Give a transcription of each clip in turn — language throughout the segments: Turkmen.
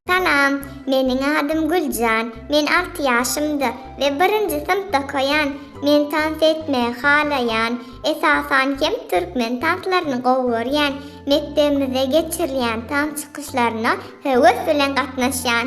Salam, meniň adym Güljan. Men 6 ýaşymda we 1-nji synpda okaýan. Men tans etmegi halaýan. Esasan hem türkmen tanslaryny gowy görýän. Mekdebimizde geçirilýän tans çykyşlaryna höwes bilen gatnaşýan.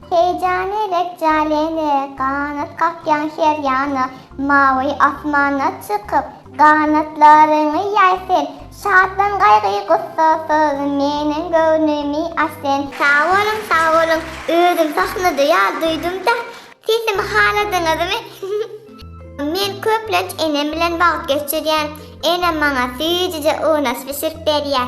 Heýjany rejjalendi ganat kakýan her ýana, Mawy asmana çykyp, ganatlaryňy ýaý sen, Şatlan gaýgy-gussasyz meniň göwnümi aç sen. Sag boluň sag boluň özüm sahnada ýaly duýdumda sesimi haladyňyzmy Men köplenç enem bilen wagt geçirýän enem maňa süýjüje unaş bişirip berýär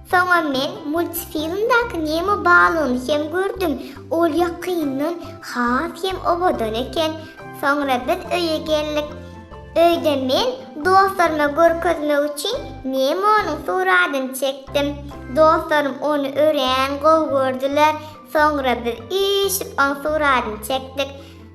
Soňam men multfilmdaky Nemo balygyny hem gördüm, ol ýakyndan has hem owadan eken. Soňra biz öýe geldik. Öýde men dostlaryma görkezmek üçin Nemonyň suratyny çekdim. Dostlarym ony örän gowy gördüler. Soňra biz üýşüp oň suratyny çekdik.